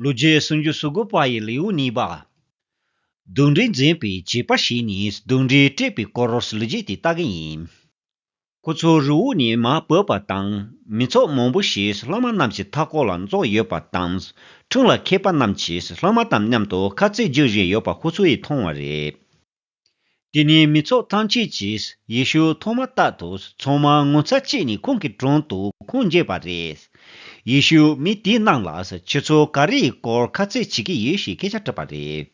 ལུས་རྗེས་སུམ་ཅུ་སོ་དགུ་པ་ཡི་ལེའུ་གཉིས་པ། གདུང་འདྲེ་འཛིན་པའི་བྱེད་པ་བྱས་ནས་གདུང་འདྲེ་བསྐྲད་པའི་སྐོར་ལུས་རྗེས་དེ་ལྟ་གི་ཡིན། ཁོ་ཚོའི་རི་བོ་ནས་མ་བོས་པ་དང་མི་ཚོགས་མང་པོ་ཞིག་བླ་མ་རྣམས་ཀྱི་མཐའ་སྐོར་ལ་འཛོགས་ཡོད་པ་དང་འཁྲུངས་ལ་མཁས་པ་རྣམས་ཀྱིས་བླ་མ་དང་མཉམ་དུ་ཁ་རྩེད་རྒྱུགས་བཞིན་ཡོད་པ་ཁོ་ཚོས་མཐོང་བ་རེད། དེ་ནས་མི་ཚོགས་ཐམས་ཅད་ཀྱིས་ཡེ་ཤུ་མཐོང་མ་ཐག་ཏུ་ཚང་མ་ངོ་ཚ་སྐྱེས་ནས་ཁོང་གི་དྲུང་དུ་ཁུངས་འགྱེད་པ་རེད། ཡེ་ཤུས་མི་དེ་རྣམས་ལ་ཁྱོད་ཚོ་ག་རེ་ཡི་སྐོར་ཁ་རྩོད་བྱེད་ཀྱི་ཡོད་ཞེས་སྐད་ཆ་དྲིས་པ་རེད།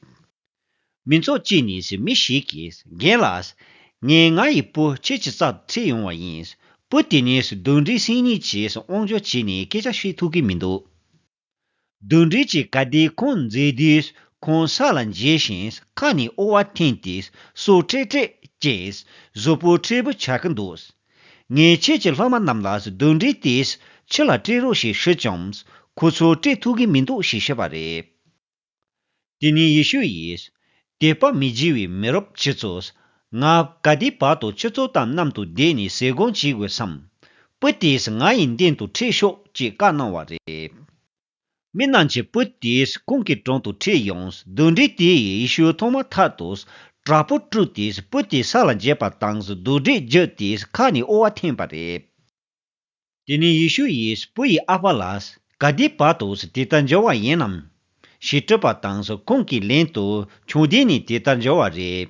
མི་ཚོགས་ཀྱི་ནས་མི་ཞིག་གིས་རྒན་ལགས། ངས་ང་ཡི་སྤུ་ཁྱེད་ཀྱི་རྩར་འཁྲིད་ཡོང་བ་ཡིན། སྤུ་དེ་ནས་གདོན་འདྲེ་སྲིང་གཉིས་ཀྱིས་དབང་འབྱོར་བྱས་ནས་སྐད་ཆ་བཤད་ཐུབ་ཀྱི་མི་འདུག། བདུད་འདྲེ་གྱི་བཀའ་དེ་ཁོང་མཛད་དུས་ཁོང་ས་ལ་འགྱེལ་ཞིང་ཁ་ནས་ཨོ་བ་འཐེན་ཏེ་སོ་ཁྲེག་ཁྲེག་ཅེས་བཟོ་བོ་ཁྲེལ་བུ་བྱ་གི་འདུག་ངས་ཁྱེད་ཀྱི་ལྷག་མ་རྣམས་ལ་བདུད་འདྲེ་དེས་ཕྱི་ལ་སྤྲད་རོགས་ཞེས་ཞུས་ཀྱང་ཁོ་ཚོས་སྤྲད་ཐུབ་གི་མི་འདུག་ཞེས་བཤད་པ་རེད། དེ་ནས་ཡེ་ཤུ་ཡིས། དད་པ་མི་བགྱི་བའི་མི་རབས་ཁྱི་ཚོས། ང་ག་དུས་བར་དུ་ཁྱོད་ཚོ་དང་མཉམ་དུ་བསྡད་ནས་ཟས་གོན་བྱེད་དགོས་སམ། བུ་དེས་ང་ཡི་མདུན་དུ་ཁྲིད་ཤོག་ཅེས་བཀའ་གནང་བ་རེད། མི་རྣམས་ཀྱིས་བུ་དེས་ཁོང་གི་དྲུང་དུ་ཁྲིད་ཡོང། གདུང་རིགས་དེས་ཡེ་ཤུ་མཐོང་མ་ཐག་ཏུ། དྲག་པོ་དཀྲུགས་ཏེ་བུ་དེ་ས་ལ་འགྱེལ་བ་དང་གདུགས་དྲེག་བགྱིས་ཏེ་ཁ་ནས་དབུ་བ་འཐེན་པ་རེད། དེ་ནས་ཡེ་ཤུ་ཡིས་བུ་ཡི་ཨ་ཕ་ལ། ག་དུས་བར་དུ་དེ་ལྟར་འབྱོར་བ་ཡིན་ནམ། ཞེས་དྲིས་པ་དང་ཁོང་གིས་ལན་དུ་ཁྱོད་དེ་ནས་དེ་ལྟར་འབྱོར་བ་རེད།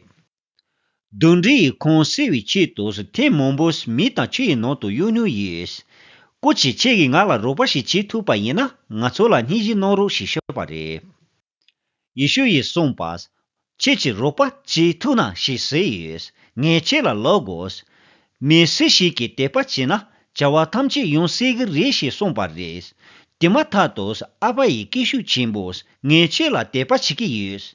གདུང་རིགས་ཡིས་ཁོང་སེལ་བའི་ཆེད་དུ་ཐེངས་མང་པོ་མི་དང་ཆུ་ཡི་ནང་དུ་གཡུག་མྱུལ་ཡོད། སྐུ་ཚེ་ཁྱེད་ཀྱིས་ང་ལ་རོགས་པ་ཞིག་བྱེད་ཐུབ་པ་ཡིན་ན་ང་ཚོ་ལ་སྙིང་གཞི་གནང་རོགས་ཞེས་ཤོད་པ་རེད། ཡེ་ཤུ་ཡིས་གསུངས་པ། ཁྱེད་ཀྱི་རོགས་པ་ཅིའི་ཐུགས་ན་ཞིག་ཟེར་ཡོད། ངས་ཁྱེད་ལ་ལོག་དགོས། མི་སུ་ཞིག་གིས་དད་པ་བྱེད་ན་བྱ་བ་ཐམས་ཅད་ཡོང་སྲིད་གི་རེད་ཞེས་གསུངས་པ་རེད། དེ་མ་ཐག་ཏུ་ཨ་ཕ་ཡིས་སྐད་ཤུགས་ཆེན་པོས་ངས་ཁྱེད་ལ་དད་པ་བྱེད་ཀྱི་ཡོད།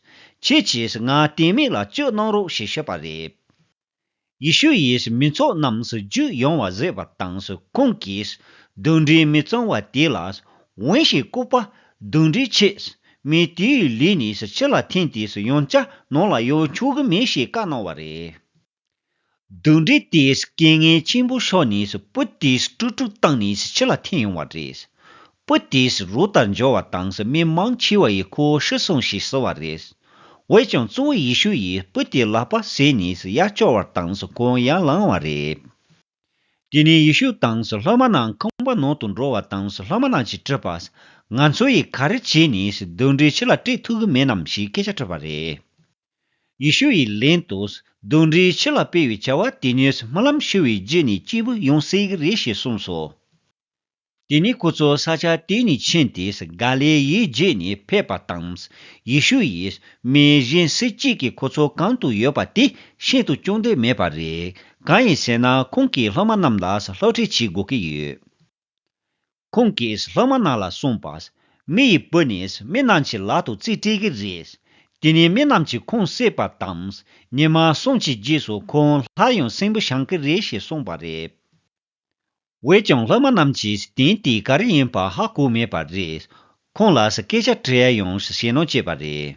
ཁྱེད་ཀྱིས་ང་གཏན་མེད་ལ་སྤྱོད་གནང་རོགས་ཞེས་ཤོད་པ་རེད། ཡེ་ཤུ་ཡིས་མི་ཚོགས་རྣམས་སུ་རྒྱུད་ཡོང་བ་བཟོས་པ་དང་ཁོང་གིས་གདུང་འདྲེ་མི་བཙོང་བ་དེ་ལ་འོན་ཞེས་བཀུར་པ། གདུང་འདྲེ་ཆེས་མེད་དེའི་ལུས་ནས་ཕྱི་ལ་འཐེན་ཏེ་ཡང་བསྐྱར་ནང་ལ་ཡོང་ཆོག་གི་མེད་ཞེས་བཀའ་གནང་བ་རེད། གདུང་འདྲེ་དེས་རྐྱེན་ངན་ཆེན་པོ་ཕྱོགས་ནས་སྤུ་དེ་སྤྲུག་སྤྲུག་བཏང་ནས་ཕྱི་ལ་འཐེན་ཡོང་བ་རེད། པོ་ཏིས་རུ་ལྟར་འབྱོར་བ་དང་ས་མིང་མང་ཆེ་བ་ཡི་ཁུ་བོ་ཤི་སོང་ཞེས་ཟེར་བ་རེད། འོད་ཀྱང་གཙོ་བོ་ཡེ་ཤུ་ཡིས་པོ་ཏིའི་ལག་པ་ཟས་ནས་ཡར་བསྐྱོར་བར་དང་ཁོང་ཡར་ལངས་བ་རེད། དེ་ནས་ཡེ་ཤུ་དང་སློབ་མ་རྣམས་ཁང་པ་ནང་དུ་འགྲོ་བ་དང་སློབ་མ་རྣམས་ཀྱིས་དྲིས་པ། ང་ཚོ་ཡིས་ག་རེ་བྱས་ནས་གདུང་འདྲེ་ཁྱི་ལ་སྤྲད་ཐུབ་གི་མེད་ནམ་ཞེས་སྐད་ཆ་དྲིས་པ་རེད། ཡེ་ཤུ་ཡིས་ལན་དུ། གདུང་འདྲེ་ཁྱི་ལ་སྤེལ་བའི་བྱ་བ་དེ་ཉིད་རྨི་ལམ་ཤི་བའི་རྗེས་ནས་སྐྱེས་བུ་ཡང་སྲེག་གི་རེད་ཞེས་གསུངས་སོ། དེ་ནས་སྐུ་ཚོགས་ས་ཆ་དེ་ནས་ཕྱིན་ཏེ་གཱ་ལེ་ཡའི་རྗེས་ནས་ཕེབས་པ་དང། ཡེ་ཤུ་ཡིས་མི་གཞན་སུ་གཅིག་གིས་ཁོ་ཚོ་གང་དུ་ཡོད་པ་དེ་ཤིན་ཏུ་སྐྱོང་འདོད་མེད་པ་རེད། གང་ཡིན་ཟེར་ན་ཁོང་གིས་སློབ་མ་རྣམས་ལ་སློབ་ཁྲིད་བྱེད་དགོས་ཀྱི་ཡོད། ཁོང་གིས་སློབ་མ་རྣམས་ལ་གསུངས་པ། མི་ཡི་བུ་ནི་མི་རྣམས་ཀྱི་ལག་ཏུ་རྩིས་སྤྲད་ཀྱི་རེད། དེ་ནས་མི་རྣམས་ཀྱིས་ཁོང་བསད་པ་དང། ཉི་མ་གསུམ་གྱི་རྗེས་སུ་ཁོང་སླར་ཡང་སྲིན་བུ་བྱང་གི་རེད་ཞེས་གསུངས་པ་རེད། འོད་ཀྱང་སློབ་མ་རྣམས་ཀྱིས་གདན་དེ་ག་རེ་ཡིན་པ་ཧ་གོ་མེད་པ་རེད། ཁོང་ལ་སྐད་ཆ་དྲིས་ཡོང་ཞེས་ནོ་བྱས་པ་རེད།